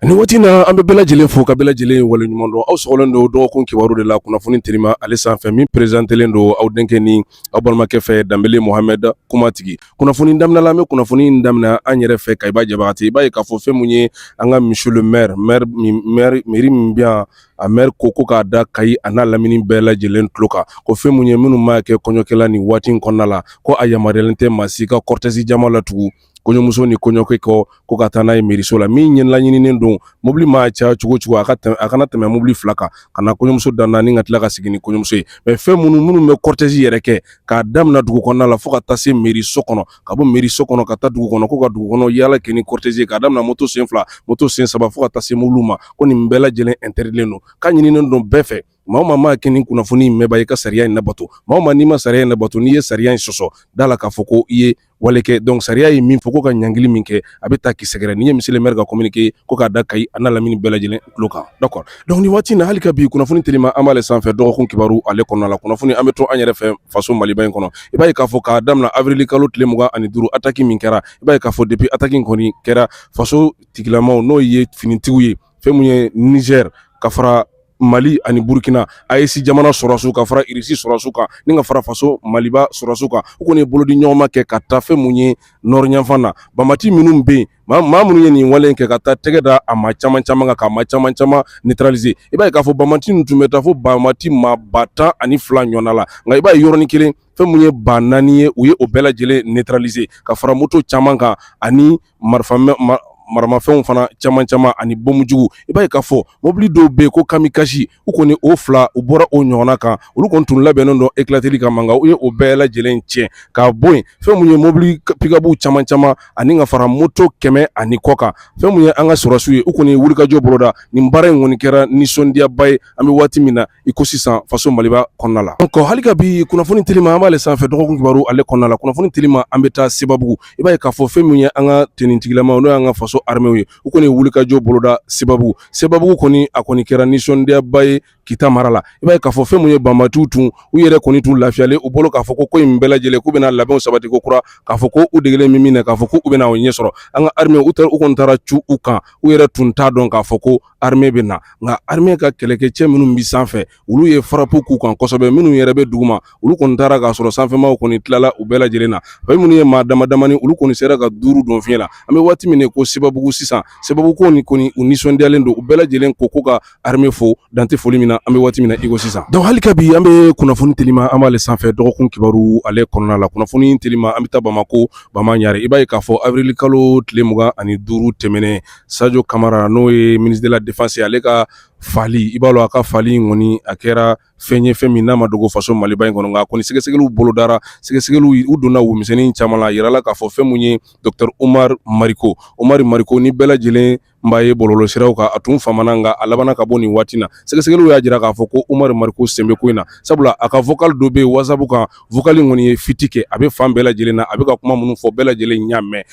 Nin waati in na an bɛ bɛɛ lajɛlen fo ka bɛɛ lajɛlen waleɲuman dɔn aw sɔgɔlen don dɔgɔkun kibaru de la kunnafoni telima ale sanfɛ min perezantelen don aw denkɛ ni aw balimakɛ fɛ Danbele Mohamɛd kumatigi kunnafoni daminɛ la an bɛ kunnafoni in daminɛ an yɛrɛ fɛ Kayiba Jabate i b'a ye k'a fɔ fɛn mun ye an ka monsieur le maire mairie min bɛ yan a maire ko ko k'a da kayi a n'a lamini bɛɛ lajɛlen tulo kan ko fɛn mun ye minnu maa kɛ kɔɲɔkɛla ni waati in kɔnɔna la ko a yamaruyalen tɛ maa si ka kɔrɔtɛsi jama latugu kɔɲɔmuso ni kɔɲɔkɛ kɔ ko ka taa n'a ye mairie so la min ɲɛlaɲininen don mobili maa caya cogo o cogo a ka tɛmɛ a kana tɛmɛ mobili fila kan ka na kɔɲɔmuso danna ni ka tila ka segin ni kɔɲɔmuso ye mɛ fɛn minnu minnu bɛ kɔrɔtɛsi yɛrɛ kɛ k'a daminɛ dugu kɔnɔna la fo ka taa se mairie so kɔnɔ ka bɔ mairie so kɔnɔ ka taa dugu kɔnɔ ko ka dugu kɔnɔ yaala kɛ ni kɔrɔtɛsi k'a daminɛ moto sen fila moto sen saba fo ka taa se mobili ma ko nin bɛɛ lajɛlen ɛntɛridilen don k'a ɲininen don bɛɛ fɛ Maa o maa maa kɛ nin kunnafoni in mɛnba i ka sariya in nabato maa o maa n'i ma sariya in nabato n'i ye sariya in sɔsɔ da la k'a fɔ ko i ye wale kɛ donc sariya ye min fɔ ko ka ɲangili min kɛ a bɛ taa k'i sɛgɛrɛ nin ye monsieur le maire ka communiqué ko k'a da Kayi a n'a lamini bɛɛ lajɛlen tulo kan d'accord donc ni waati na hali ka bi kunnafoni telima an b'ale sanfɛ dɔgɔkun kibaru ale kɔnɔna la kunnafoni an bɛ to an yɛrɛ fɛ faso maliba in kɔnɔ i b'a ye k'a fɔ k'a daminɛ awirili kalo tile mugan ani duuru ataki min kɛra i b'a ye k'a fɔ depi ataki kɔni kɛra faso tigilama n'o ye finitigiw ye fɛn mun ye Niger ka fara Mali ani Burkina AES jamana sɔrɔsiw ka fara Irisi sɔrɔsiw kan ni ka fara faso Maliba sɔrɔsiw kan u kɔni ye bolodiɲɔgɔnma kɛ ka taa fɛn mun ye Nord yanfan na banbati minnu bɛ yen maa maa minnu ye nin wale in kɛ ka taa tɛgɛ da a maa caman caman kan k'a maa caman caman neutraliser i b'a ye k'a fɔ banbati ninnu tun bɛ taa fo banbati maa ba tan ani fila ɲɔgɔnna la nka i b'a ye yɔrɔnin kelen fɛn mun ye ba naani ye u ye o bɛɛ lajɛlen neutraliser ka fara moto caman kan ani marifamɛ ma maramafɛnw fana caman caman ani bomujugu i b'a ye k'a fɔ mobili dɔw bɛ yen ko kamikasi u kɔni o fila u bɔra o ɲɔgɔnna kan olu kɔni tun labɛnnen don ekilateli kama nka u ye o bɛɛ lajɛlen tiɲɛ k'a bɔ yen fɛn mun ye mobili pikabu caman caman ani ka fara moto kɛmɛ ani kɔ kan fɛn mun ye an ka sɔrɔsiw ye u kɔni wulikajɔ boloda nin baara in kɔni kɛra nisɔndiyaba ye an bɛ waati min na i ko sisan faso maliba kɔnɔna la donc hali ka bi kunnafoni telima an b'ale sanfɛ dɔgɔkun kibaru ale kɔnɔna la kunnafoni telima an bɛ taa sebabugu i b'a ye k'a fɔ fɛn mun ye an ka tenitigilamaw n'o y'an ka faso armew ye u kɔni wulikajɔ boloda sebabugu sebabugu kɔni a kɔni kɛra nisɔndiyaba ye kita mara la i b'a ye k'a fɔ fɛn mun ye banbatiw tun u yɛrɛ kɔni tun lafiyalen u bolo k'a fɔ ko ko in bɛɛ lajɛlen k'u bɛna labɛnw sabati ko kura k'a fɔ ko u degelen min min na k'a fɔ ko u bɛna o ɲɛ sɔrɔ an ka armew u taara u kɔni taara cu u kan u yɛrɛ tun t'a dɔn k'a fɔ ko arme bɛ na nka arme ka kɛlɛkɛcɛ minnu bɛ sanfɛ olu ye frappe k'u kan kosɛbɛ minnu yɛrɛ bɛ duguma olu kɔni taara k'a sɔrɔ sanfɛmaw kɔni tilala u bɛɛ lajɛlen na fɛn minnu ye maa damadamanin olu kɔni sera ka duuru don fiɲɛ la an bɛ waati min ko sebabugu sisan sebabugukaw ni kɔni u nisɔndiyalen don u bɛɛ lajɛlen ko ko ka arme fo dan tɛ foli min na an bɛ waati min na iko sisan donc hali ka bi an bɛ kunnafoni telima an b'ale sanfɛ dɔgɔkun kibaru ale kɔnɔna la kunnafoni telima an bɛ taa bamakɔ ko bamanan ɲare i b'a ye k'a fɔ awirili kalo tile mugan ani duuru tɛmɛnen sajo kamara n'o ye ministre de la défense ale ka fali i b'a dɔn a ka fali in kɔni a kɛra fɛn ye fɛn min n'a ma dogo faso maliba in kɔnɔ nka kɔni sɛgɛsɛgɛliw bolodara sɛgɛsɛgɛliw u donna womisɛnnin caman la a yirala k'a fɔ fɛn min ye docteur umar mariko umar mariko ni bɛɛ lajɛlen b'a ye bɔlɔlɔsiraw kan a tun famana nka a labanna ka bɔ nin waati na sɛgɛsɛgɛliw y'a jira k'a fɔ ko umar mariko sen bɛ ko in na sabula a ka vocal dɔ bɛ whatsapp kan vocal in kɔni ye fiti kɛ a bɛ fan bɛɛ lajɛlen na a bɛ ka kuma minnu fɔ bɛɛ lajɛlen y'a mɛn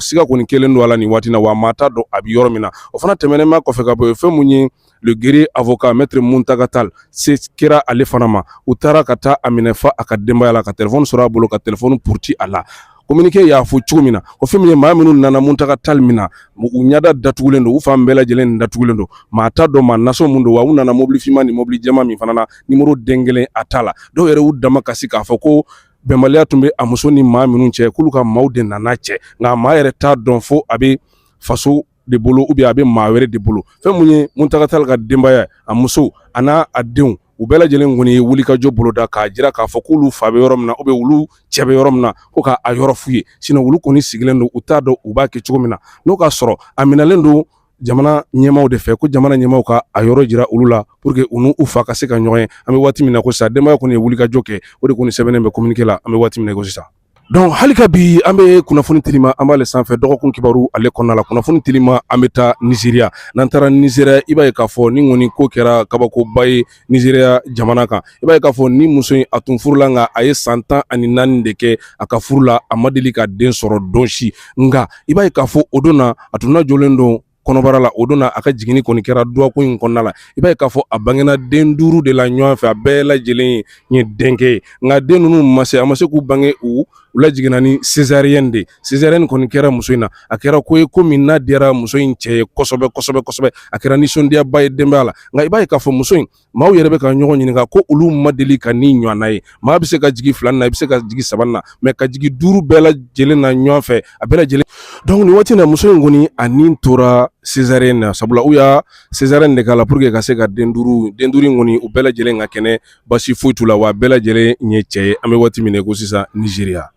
siga kɔni kelen don a la nin waati na wa maa t'a dɔn a bɛ yɔrɔ min na o fana tɛmɛnen ma kɔfɛ ka bɔ yen fɛn mun ye le guerrier avocat maître muntaga tali se kɛra ale fana ma u taara ka taa a minɛ fo a ka denbaya la ka telefɔni sɔrɔ a bolo ka telefɔni puruti a la kominike y'a fɔ cogo min na o fɛn min ye maa minnu nana muntaga tali minɛ u ɲɛda datugulen don u fan bɛɛ lajɛlen datugulen don maa t'a dɔn maa nasɔn mun don wa u nana mobili finman ni mobili jɛman min fana na nimoro den kelen a t'a la dɔw yɛrɛ y'u damakasi k'a fɔ ko bɛnbaliya tun bɛ a muso ni maa minnu cɛ k'olu ka maaw de nana cɛ nka maa yɛrɛ t'a dɔn fo a bɛ faso de bolo ou bien a bɛ maa wɛrɛ de bolo fɛn mun ye muntaga tali ka denbaya a muso a n'a denw u bɛɛ lajɛlen kɔni ye wulikajɔ boloda k'a jira k'a fɔ k'olu fa bɛ yɔrɔ min na ou bien olu cɛ bɛ yɔrɔ min na ko k'a yɔrɔ f'u ye sinon olu kɔni sigilen don u t'a dɔn u b'a kɛ cogo min na n'o k'a sɔrɔ a minɛlen don jamana ɲɛmaaw de fɛ ko jamana ɲɛmaaw ka a yɔrɔ jira olu la pour que u n'u fa ka se ka ɲɔgɔn ye an bɛ waati min na ko sisan denbaya kɔni ye wulikajɔ kɛ o de kɔni sɛbɛnnen bɛ communiqué la an bɛ waati min na ko sisan Dɔnku hali ka bi an bɛ kunnafoni telima an b'ale sanfɛ dɔgɔkun kibaru ale kɔnɔna la kunnafoni telima an bɛ taa nizeriya n'an taara nizeriya i b'a ye k'a fɔ nin kɔni ko kɛra kabakoba ye nizeriya jamana kan i b'a ye k'a fɔ nin muso in a tun furula nka a ye san tan ani naani de kɛ a ka furu la a ma deli ka den sɔrɔ don si nka i b'a ye k'a fɔ o don na a tun lajɔlen don kɔnɔbara la o don na a ka jiginni kɔni kɛra dɔgɔkun in kɔnɔna la i b'a ye k'a fɔ a bangena den duuru de la ɲɔgɔn fɛ a bɛɛ lajɛlen ye ye denkɛ ye nka den ninnu ma se a ma se k'u bange u lajiginna ni césarienne de césarienne kɔni kɛra muso in na a kɛra ko ye ko min n'a diyara muso in cɛ ye kosɛbɛ kosɛbɛ kosɛbɛ a kɛra nisɔndiyaba ye denbaya la nka i b'a ye k'a fɔ muso in maaw yɛrɛ bɛ ka ɲɔgɔn ɲininka ko olu ma deli ka nin ɲɔgɔnna ye maa bɛ se ka jigin filan na i bɛ se ka jigin saban na mɛ ka jigin duuru bɛɛ lajɛlen na ɲɔgɔn fɛ a bɛɛ lajɛlen dɔnku nin waati na muso in kɔni a ni tora césarienne na sabula u ye césarienne de k'a la pour que ka se ka den duuru den duuru in kɔni u bɛɛ lajɛlen ka kɛnɛ basi foyi t'u la wa bɛɛ lajɛlen ye cɛ ye an bɛ waati min ko sisan nizeriya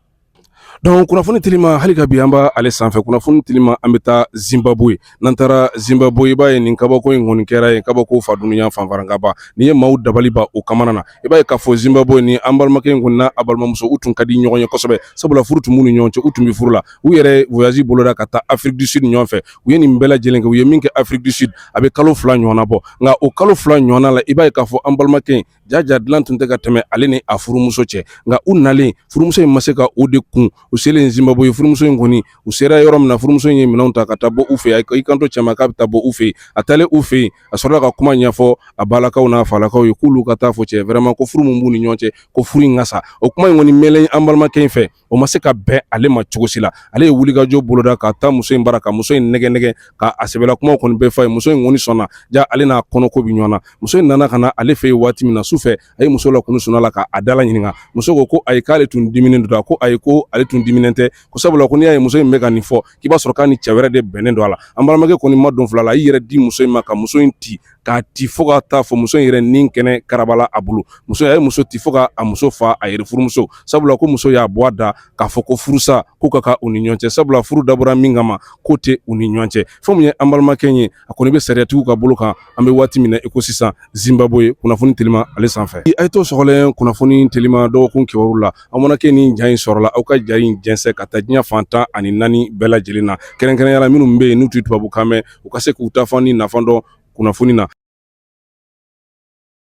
Dɔnku kunnafoni telima hali ka bi an b'ale sanfɛ kunnafoni telima an bɛ taa zimbabwe n'an taara zimbabwe i b'a ye nin kabako in kɔni kɛra yen kabako fa dunya fanfarakanba nin ye maaw dabali ban u kamana na i b'a ye k'a fɔ zimbabwe nin an balimakɛ in kɔni n'a balimamuso u tun ka di ɲɔgɔn ye kosɛbɛ sabula furu tun b'u ni ɲɔgɔn cɛ u tun bɛ furu la u yɛrɛ voyage boloda ka taa afrique du sud ɲɔgɔn fɛ u ye nin bɛɛ lajɛlen kɛ u ye min kɛ afrique du sud a bɛ kalo fila ɲɔgɔn bɔ nka o kalo fila ɲɔgɔnna la i b'a ye k'a fɔ an balimakɛ in jaja dilan tun tɛ ka tɛmɛ ale ni a furumuso cɛ nka u nalen furumuso in ma se ka o de kun u selen zimbabwe furumuso in kɔni u sera yɔrɔ min na furumuso in ye minɛnw ta ka taa bɔ u fɛ yen i kanto cɛ ma k'a bɛ taa bɔ u fɛ yen a taalen u fɛ yen a sɔrɔla ka kuma ɲɛfɔ a balakaw n'a falakaw ye k'olu ka taa fɔ cɛ vraiment ko furu min b'u ni ɲɔgɔn cɛ ko furu in ka sa o kuma in kɔni mɛnlen an balimakɛ in fɛ o ma se ka bɛn ale ma cogo si la ale ye wulikajɔ boloda ka taa muso in bara ka muso in nɛgɛn nɛgɛn ka a sɛbɛla kumaw kɔni bɛɛ f'a ye muso in kɔni sɔnna ja ale n'a kɔnɔko bɛ ɲɔgɔn na muso in nana ka na ale fɛ yen waati min na su fɛ a ye muso lakunu sunɔgɔ la ka a dala ɲininka muso ko ko ayi k'ale tun diminen don a ko ayi ko ale tun diminen tɛ ko sabula ko n'i y'a ye muso in bɛ ka nin fɔ k'i b'a sɔrɔ k'a ni cɛ wɛrɛ de bɛnnen don a la an balimakɛ kɔni ma don fila la i yɛrɛ di muso in ma ka muso in ti k'a ti fo ka taa fɔ muso in yɛrɛ ni kɛnɛ karabala a bolo muso a ye muso ti fo ka a muso fa a yɛrɛ furumuso sabula ko muso y'a bɔ a da k'a fɔ ko furusa ko ka kan u ni ɲɔgɔn cɛ sabula furu dabɔra min kama k'o tɛ u ni ɲɔgɔn cɛ fɛn min ye an balimakɛ ye a kɔni bɛ sariyatigiw ka bolo kan an bɛ waati min na i ko sisan zimbabwe kunnafoni telima ale sanfɛ a ye to sɔgɔlen kunnafoni telima dɔgɔkun kibaru la aw mana kɛ nin ja in sɔrɔla aw ka ja in jɛnsɛn ka taa diɲɛ fantan ani naani bɛɛ lajɛlen na kɛrɛnkɛrɛnnenya la minnu bɛ yen n'u tɛ tubabukan mɛn ukase kutafani nafando kunafuni na